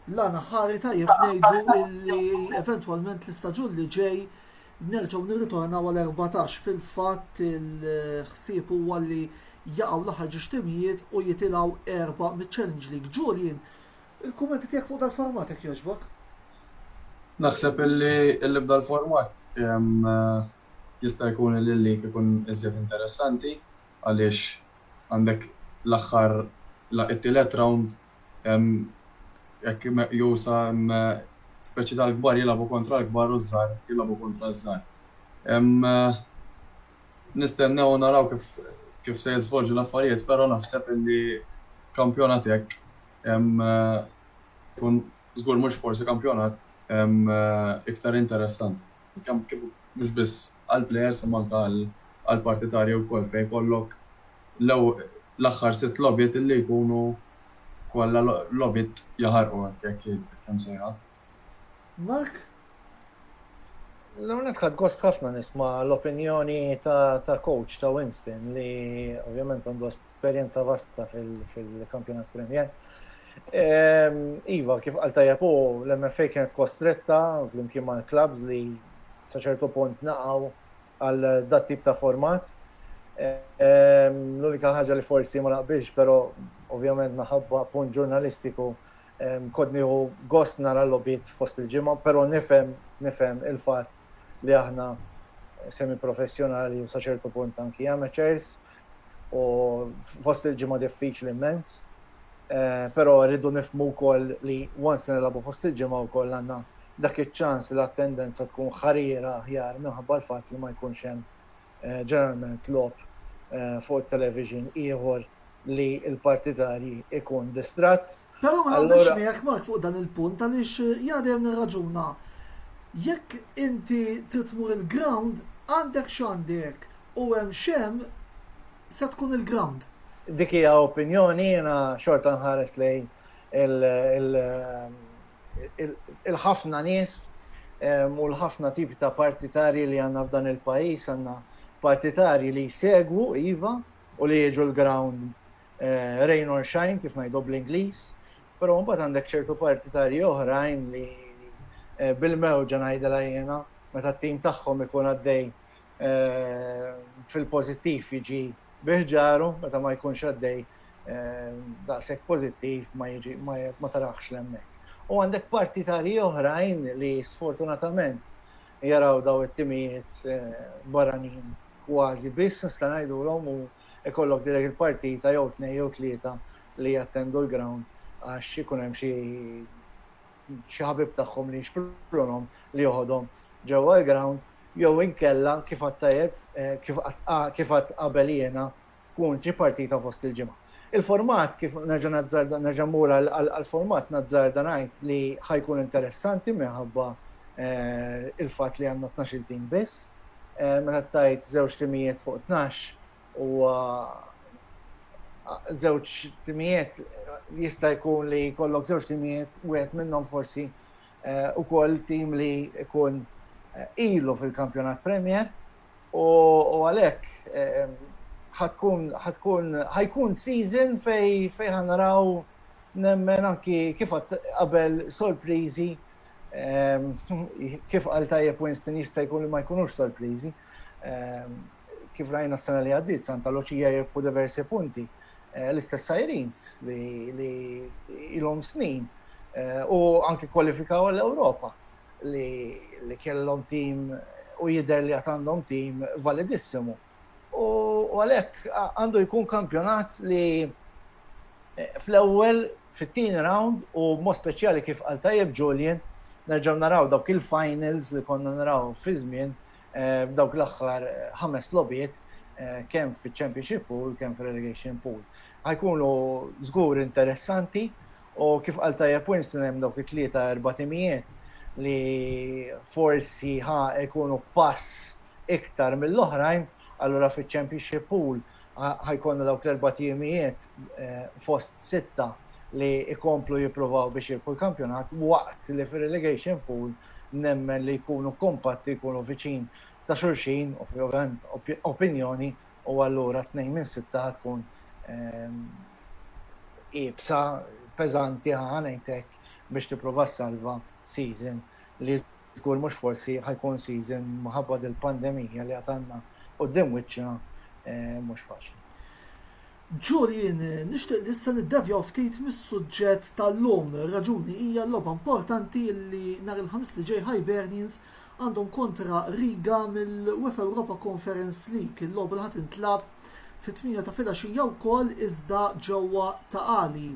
L-għana ħari tajjeb ngħidu illi eventwalment l-istaġun li ġej nerġgħu nirritornaw għal 14 fil-fatt il-ħsieb huwa li jaqgħu l-aħħar ġiex timijiet u jitilgħu erba' miċ-Challenge League. Julian, Il-kummenti tiegħek fuq dal-format jekk jogħġbok? Naħseb illi illi b'dal-format jista' jkun illi l-leak ikun iżjed interessanti għaliex għandek l-aħħar it-tielet round hekk meqjusa speċi tal-kbar jilagħbu kontra l-kbar u ż-żgħar jilagħbu kontra ż-żgħar. Nistennew u naraw kif kif se jiżvolġu l-affarijiet però naħseb illi kampjonat hekk Ikun żgur mhux forsi kampjonat iktar interessanti. Kemm kif mhux biss għall-plejers imma anke għall-partitarji wkoll fejn jkollok l-aħħar sitt logħbiet li jkunu kollha logħbiet jaħarqu hekk hekk imsejħa. Mark? L-għonet ħad gost ħafna nisma l-opinjoni ta' coach ta' Winston li ovvjament għandu esperienza vasta fil-kampjonat Premier. Ehm, iva, kif għal tajab u l-MFA kienet kostretta fl-imkien ma' l-klabs li saċertu punt naqaw għal dat-tip ta' format. L-unika ħaġa li forsi ma naqbilx, però ovvjament minħabba punt ġurnalistiku, kont nieħu gost nara l-logħbiet fost il-ġimgħa, però nifhem, nifhem il-fatt li aħna semiprofessjonali u sa ċertu punt anki amateurs, u fost il-ġimgħa diffiċli immens. Eh, però rridu nifmu wkoll li once nilagħbu fost il-ġimgħa wkoll għandna dak iċ-ċans li l-attendenza tkun ħarira aħjar minħabba l-fatt li ma jkunx hemm eh, ġeneralment lob eh, fuq it-television ieħor li l-partitarji ikun distratt. Però ma naqbilx miegħek Mark fuq dan il-punt għaliex jiena dejjem nirraġuna jekk inti trid tmur il-ground għandek x'għandek u hemm x'hemm se tkun il-ground. Dik hija opinjoni jiena xorta nħares lejn il-ħafna nies u l-ħafna tipi ta' partitarji li għandna f'dan il-pajjiż għandna partitarji li jsegwu iva u li jiġu l-ground rain or shine kif ngħidu bl-Ingliż, però mbagħad għandek ċertu partitarji oħrajn li bil-mewġa ngħidilha jiena meta t-tim tagħhom ikun għaddej fil-pożittiv jiġi biħġaru meta ma jkunx għaddej daqshekk pożittiv ma jiġi ma taraħx l-hemmhekk. U għandek partitarji oħrajn li sfortunatament jaraw daw it-timijiet eh, barranin kważi biss nista' ngħidulhom u ikollok dirett il-partita jew tnejn jew tlieta li jattendu l-ground għax ikun hemm xi xi ħabib tagħhom li jixprunhom li joħodhom ġewwa l-ground jew inkella kif għadt tajjeb kif għadt kif għadt qabel jiena tkun xi partita fost il-ġimgħa. Il-format kif nerġa' nazzarda nerġa' mmur għall-format nazzarda ngħid li ħa jkun interessanti minħabba l-fatt li għandna tnax-il team biss. meta tajt żewġ timijiet fuq tnax huwa żewġ timijiet jista' jkun li jkollok żewġ timijiet wieħed minnhom forsi ukoll tim li jkun ilu fil-Kampjonat Premier u għalhekk ħatkun ħajkun season fejn ħanaraw nemmen anki kif qabel sorpriżi Kif qal tajjeb Winston jista' jkun li ma jkunux sorpriżi. Kif rajna s-sena li għaddiet Santa Luċija jirbħu diversi punti. L-istess Sirens li ilhom snin u anki kwalifikaw għall-Ewropa li kellhom tim u jidher li għad għandhom tim validissimu. U għalhekk għandu jkun kampjonat li fl-ewwel, fit-tieni rawnd u b'mod speċjali kif qal tajjeb Julian, nerġgħu naraw dawk il-finals li konna naraw fi żmien f'dawk l-aħħar ħames logħbiet kemm fiċ-Championship pool kemm fir-Relegation pool. Ħa jkunu żgur interessanti U kif qal tajjeb Winston hemm dawk it-tlieta erba' timijiet li forsi ħa jkunu pass iktar mill-oħrajn, allura fiċ-Championship pool ħa jkollna dawk l-erba' timijiet fost sitta li jkomplu jippruvaw biex jirbħu l-kampjonat waqt li fir-relegation pool nemmen li jkunu kompatti, jkunu viċin ta' xulxin, ovvjament opinjoni, u allura tnejn minn sitta ħa tkun iebsa, peżanti, ħa ngħid hekk, biex tipprova ssalva season li żgur mhux forsi ħa jkun season minħabba dil-pandemija li għad għandna quddiem wiċċna mhux faċli. Ġurien, nixtieq li issa niddevjaw ftit mis-suġġett tal-lum. Ir-raġuni hija l-logħba importanti li nhar il-Ħamis li ġej Hibernians għandhom kontra Riga mill-UEFA Europa Conference League, il-logħba li ħa tintlagħab fit-tmienja ta' filgħaxija wkoll iżda ġewwa Ta' Qali.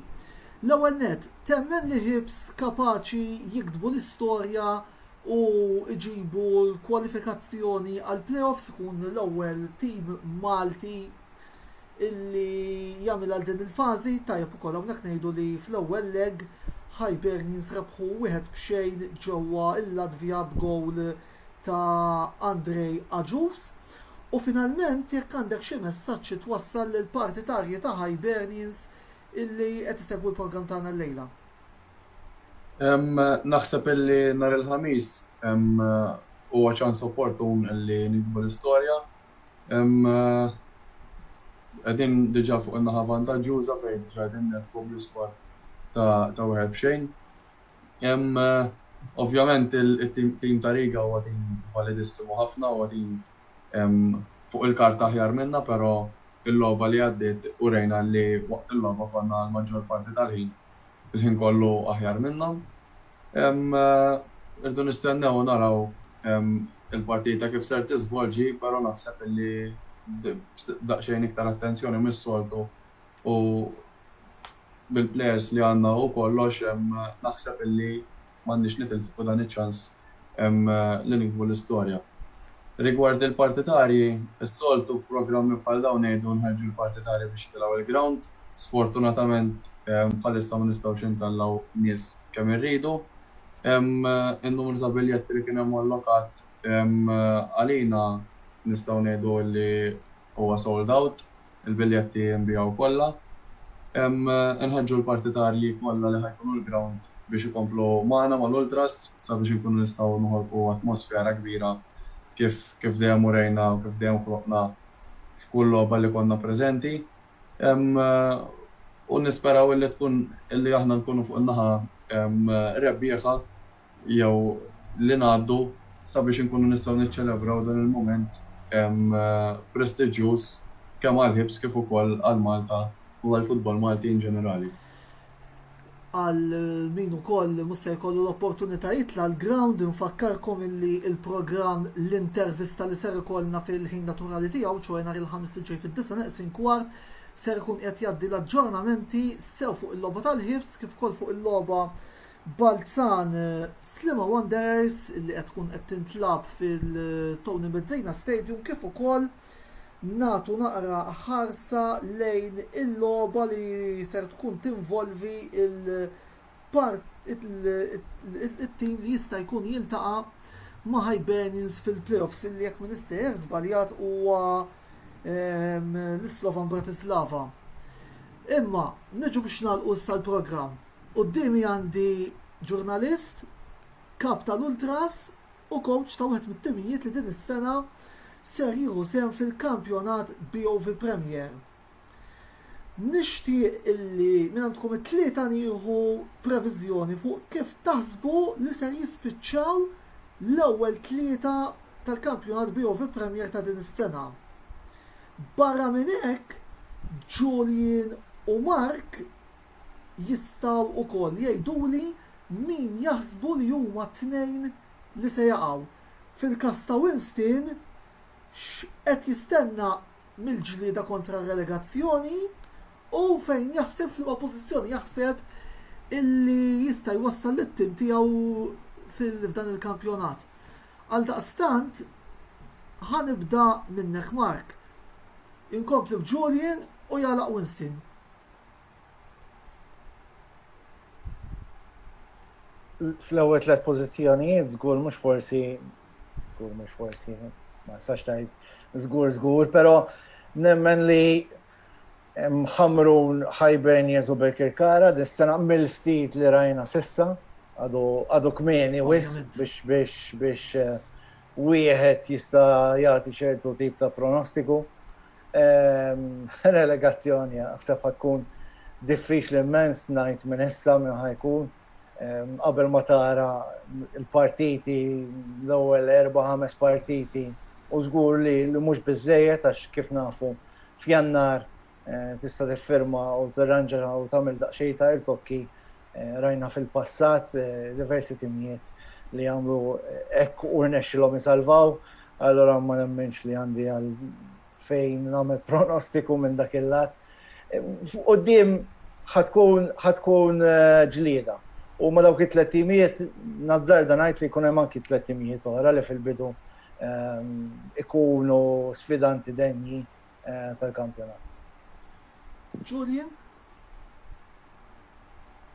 L-ewwel nett, temmen li Hibs kapaċi jiktbu l-istorja u jġibu l-kwalifikazzjoni għall-playoffs, ikun l-ewwel tim Malti illi jagħmel għal din il-fażi tajjeb ukoll hawnhekk ngħidu li fl-ewwel leg Hibernians rebħu wieħed b'xejn ġewwa l-Latvja b'gowl ta' Andrei Agius. U finalment jekk għandek xi messaġġ xi twassal lill-partitarji ta' Hibernians illi qed isegwu l-programm tagħna llejla. Naħseb illi nhar il-Ħamis huwa ċans opportun illi nikdbu l-istorja Qegħdin diġà fuq in-naħa vantaġġuża fejn diġà qegħdin nirbħu bl-iskor ta' wieħed b'xejn. Ovvjament it-tim ta' Riga huwa tim validissimu ħafna, huwa tim fuq il-karta aħjar minna però l-logħba li għaddiet urejna li waqt il-logħba konna għall-maġġor parti tal-ħin, il-ħin kollu aħjar minnhom. Irridu nistennew u naraw il-partita kif ser tiżvolġi, però naħseb li b'daqsxejn iktar attenzjoni mis-soltu u bil-plejers li għandna u kollox naħseb li m'għandniex nitilfu dan iċ-ċans. Hemm li niktbu l-istorja. Rigward il-partitarji, is-soltu f'programmi bħal dawn ngħidu nħeġġu l-partitarji biex jitilgħu il-grawnd. Sfortunatament bħalissa ma nistgħux intellgħu nies kemm irridu. In-numru ta' biljetti li kien hemm allokat għalina nistgħu ngħidu li huwa sold out. Il-biljetti nbiegħu kollha. Inħeġġu l-partitarji kollha li ħa jkunu l-grawnd biex ikomplu magħna, mal-ultras, sabiex inkunu nistgħu noħolqu atmosfera kbira kif dejjem urejna u kif dejjem ħloqna f'kull logħba li konna preżenti. U nisperaw illi tkun illi aħna nkunu fuq in-naħa rebbieħa. jew li ngħaddu sabiex inkunu nistgħu niċċelebraw dan il-mument prestiġjuż kemm għall-Hibs kif ukoll għal Malta u għall-futbol Malti in ġenerali. Għal min ukoll mhux se jkollu l-opportunità jitla' l-ground infakkarkom illi l-programm l-intervista li ser ikollna fil-ħin naturali tiegħu, ċoe nhar il-Ħamis li ġej fid-disgħa neqsin kwart, ser ikun qiegħed jgħaddi l-aġġornamenti sew fuq il-logħba tal-Hibs kif ukoll fuq il-logħba Balzan, Sliema Wanderers li qed tkun qed tintlagħab fil-Tony Mezzina Stadium kif ukoll nagħtu naqra ħarsa lejn il-logħba li ser tkun tinvolvi t-tim li jista' jkun jiltaqa' ma' Hibernians fil-playoffs li jekk m'iniex sejjer żbaljat huwa l-Slovan Bratislava. Imma niġu biex nagħlqu issa l-programm. Quddiemi għandi ġurnalist, kap tal-Ultras u kowċ ta' wieħed mit-timijiet li din is-sena ser jieħu sehem fil-kampjonat BOV Premier. Nixtieq illi minn għandkom it-tlieta nieħu previżjoni fuq kif taħsbu li ser jispiċċaw l-ewwel tlieta tal-kampjonat BOV Premier ta' din is-sena. Barra minn hekk, Julian u Mark jistgħu wkoll jgħiduli min jaħsbu li huma t-tnejn li se jaqgħu. Fil-każ ta' Winston, x'qed jistenna mill-ġlieda kontra r-relegazzjoni u fejn jaħseb, f'liema pożizzjoni jaħseb illi jista' jwassal lit-tim tiegħu f'dan il-kampjonat. Għaldaqstant, ħa nibda minnek Mark. Inkompli b'Julian u jagħlaq Winston. fl-ewwel tliet pożizzjonijiet żgur mhux forsi żgur mhux forsi ma sax tgħid żgur żgur, però nemmen li mħamrun ħajben jeżu Bekir Kara dis-sena mill-ftit li rajna sissa għadu kmieni wis biex biex biex eh, wieħed jista' jagħti ċertu tip ta' pronostiku. Relegazzjoni aħseb ħa tkun diffiċli immens ngħid minn issa minn ħa jkun qabel ma tara l-partiti l-ewwel erba' ħames partiti u żgur li mhux biżejjed għax kif nafu f'Jannar tista' tiffirma u tirranġa u tagħmel daqsxejn ta' irtokki rajna fil-passat diversi timijiet li għamlu hekk u rnexxilhom isalvaw, allura ma nemminx li għandi għal fejn nagħmel pronostiku minn dak il-lat. Fuq quddiem ħa tkun ġlieda u ma' dawk it-tliet timijiet nazzarda ngħid li jkun hemm anki tliet timijiet oħra li fil-bidu jkunu sfidanti denji. tal-kampjonat. Julian?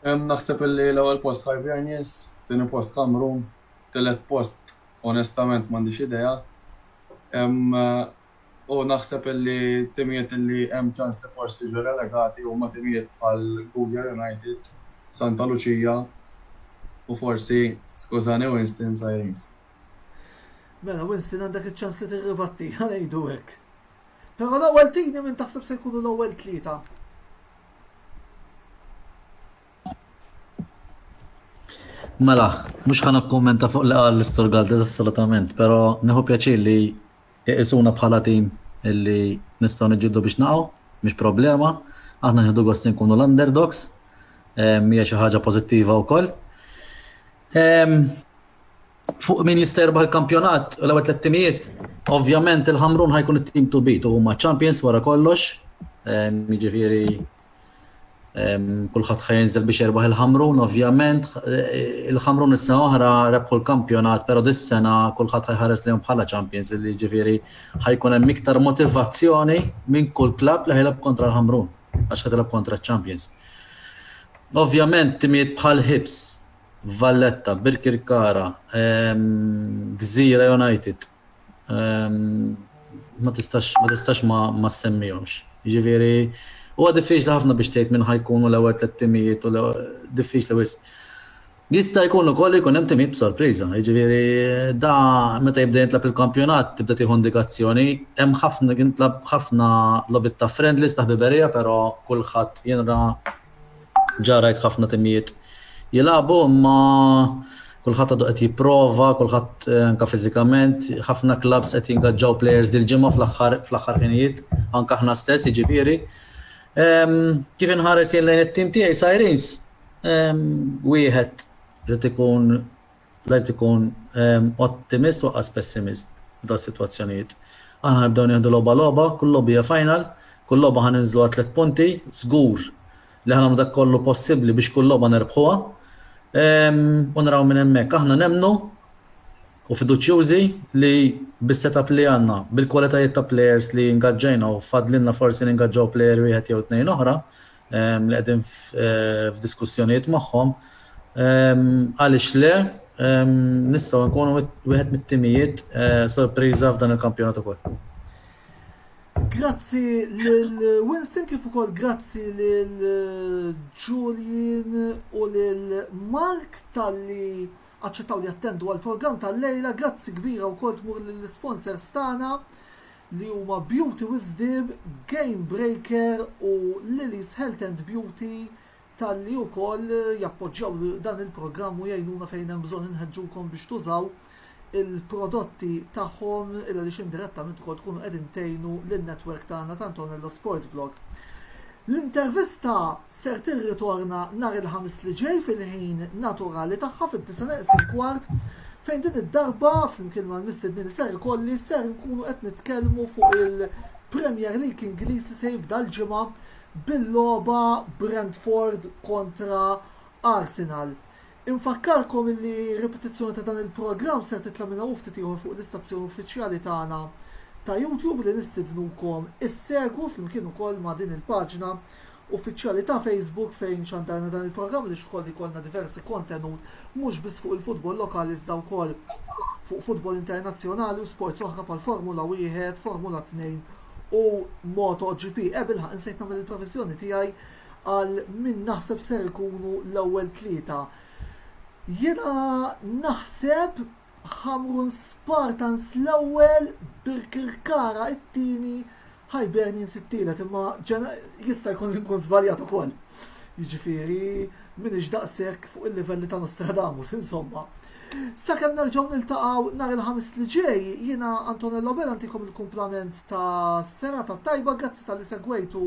Naħseb li l-ewwel post Hibernians, tieni post Kamrun, tielet post onestament m'għandix idea. U naħseb li timijiet li hemm ċans li forsi jiġu relegati huma timijiet bħal Gugja United, Santa Lucia u forsi skużani Winston Sirens. Mela Winston għandek iċ-ċans li tirribatti, ngħidu hekk. Però l-ewwel tini minn taħseb se jkunu l-ewwel tlieta. Mela, mhux ħana kommenta fuq li qal l-Istor Galdes assolutament, però neħu pjaċir li iqisuna bħala tim illi nistgħu niġġieldu biex naqgħu, mhux problema, aħna nieħdu gost nkunu l-underdogs, mija xi ħaġa pożittiva wkoll. Ehm, fuq min jista' jirbaħ il-kampjonat u l-ewwel tliet timijiet, ovvjament il-Ħamrun ħajkun it-tim to beat u huma champions wara kollox. Ehm, jiġifieri ehm, kulħadd ħajinżel biex jirbaħ il-Ħamrun, ovvjament eh, il-Ħamrun is-sena oħra rebħu l-kampjonat, però dis-sena kulħadd ħajħares lejhom bħala champions, li jiġifieri ħajkun hemm iktar motivazzjoni minn kull klabb li ħajlab kontra l-Ħamrun. għax ħa tilgħab kontra ċ-champions. Ovvjament timijiet bħal Hibs, Valletta, Birkirkara, ehm, Gżira United, ehm, ma tistax ma tistax ma, ma semmihomx. Jiġifieri huwa diffiċli ħafna biex tgħid minn ħajkunu l-ewwel tliet timijiet u diffiċli wisq. Jista' jkun ukoll li jkun hemm tim sorpriża, jiġifieri da meta jibda jintlagħab il-kampjonat tibda tieħu indikazzjoni, hemm ħafna jintlagħab ħafna logħbiet ta' friendlies ta' ħbiberija però kulħadd jien ra ġa rajt ħafna timijiet jilagħbu imma kulħadd għadu qed jipprova, kulħadd anke fiżikament, ħafna klabbs qed jingaġġaw plejers dil-ġimgħa fl-aħħar fl-aħħar ħinijiet, anke aħna stess jiġifieri. Kif inħares jien lejn it-tim tiegħi Sirens, Wieħed irid ikun l-art ikun ottimist u qas pessimist f'dawn sitwazzjonijiet. Aħna nibdew nieħdu logħba logħba, kull logħba hija final, kull logħba ħa ninżlu għal tliet punti, żgur li ħa nagħmlu dak kollu possibbli biex kull logħba nerbħuha. U naraw minn hemmhekk. Aħna nemmnu u fiduċjużi li bis-setup li għandna, bil-kwalitajiet ta' plejers li ngaġġajna u fadlinna forsi ningaġġaw plejer wieħed jew tnejn oħra, li qegħdin f'diskussjonijiet magħhom, għaliex le, nistgħu nkunu wieħed mit-timijiet sorpriża f'dan il-kampjonat ukoll. Grazzi lil Winston kif ukoll grazzi lil Julian u lil Mark talli aċċettaw li jattendu għall-programm tal-lejla. Grazzi kbira wkoll tmur lill-isponsors tagħna. li huma Beauty Wisdom, Game Breaker u Lily's Health and Beauty talli wkoll jappoġġjaw dan il-programm u jgħinuna fejn hemm bżonn inħeġġukom biex tużaw il-prodotti tagħhom għaliex indirettament ukoll tkunu qegħdin tgħinu lin-network tagħna ta' Antonello Sports Blog. L-intervista ser tirritorna nhar il-Ħamis li ġej fil-ħin naturali tagħha fid-disgħa neqes il-kwart fejn din id-darba flimkien mal-mistednin li ser ikolli ser inkunu qed nitkellmu fuq il-Premier League Ingliż li se jibda l-ġimgħa bil-logħba Brentford kontra Arsenal. Infakkarkom illi ripetizzjoni ta' dan il-programm ser titla' minn hawn u ftit ieħor fuq l-istazzjon uffiċjali tagħna ta' YouTube li nistidnukom issegwu flimkien ukoll ma' din il-paġna uffiċjali ta' Facebook fejn xandarna dan il-programm għaliex ukoll ikollna diversi kontenut mhux biss fuq il-futbol lokali iżda wkoll fuq futbol internazzjonali u sports oħra bħal Formula Wieħed, Formula Tnejn u MotoGP. Eh bilħaqq insejt nagħmel il-previżjoni tiegħi għal min naħseb ser ikunu l-ewwel tlieta. Jiena naħseb Hamrun Spartans l-ewwel, Birkirkara t-tieni, Hibernians it-tielet, imma jista' jkun li nkun żbaljat ukoll. Jiġifieri m'iniex daqshekk fuq il-livelli ta' Nostradamus, insomma. Sakemm nerġgħu niltaqgħu nhar il-Ħamis li ġej, jiena Antonello Bela ntikom il-kumplament ta' serata tajba, grazzi tal-li segwejtu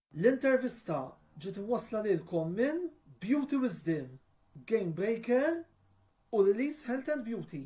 L-intervista ġiet imwassla lilkom minn Beauty Wisdom, Game Breaker u Lily's Health and Beauty.